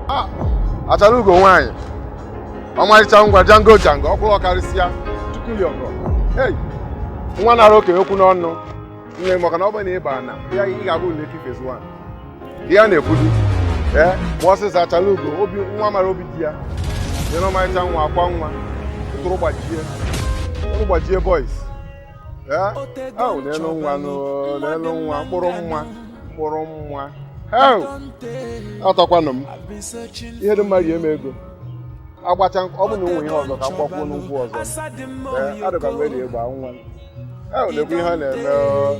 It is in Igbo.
Ah, achara ugo nwaanyị ọmarịcha ngwa jango jango ọkwụrụ ọkarịsịa tupu ya ọgọ Hey, nwa nara okenye okwu n'ọnụ nne maka na ọ bụrụ na ị bụ ana ị ga-abụ Lekki Phase 1 di ya na-ekwudi ee gba ọsịsa achara ugo obi nwa mara obi di ya dị n'ọmarịcha nwa akwa nwa tụrụ gbajie boys Eh? Oh, nenụ nwa nenụ nwa mkpụrụ nwa mkpụrụ nwa atọkwanụ m ihe dị mma rie m ego agbacha ọ bụ na o nwe ihe ọzọ ka m gbakwuo nkwụ ọzọ eh, adịkwa m eri egba nwa na-ekwu ihe a na-eme oh.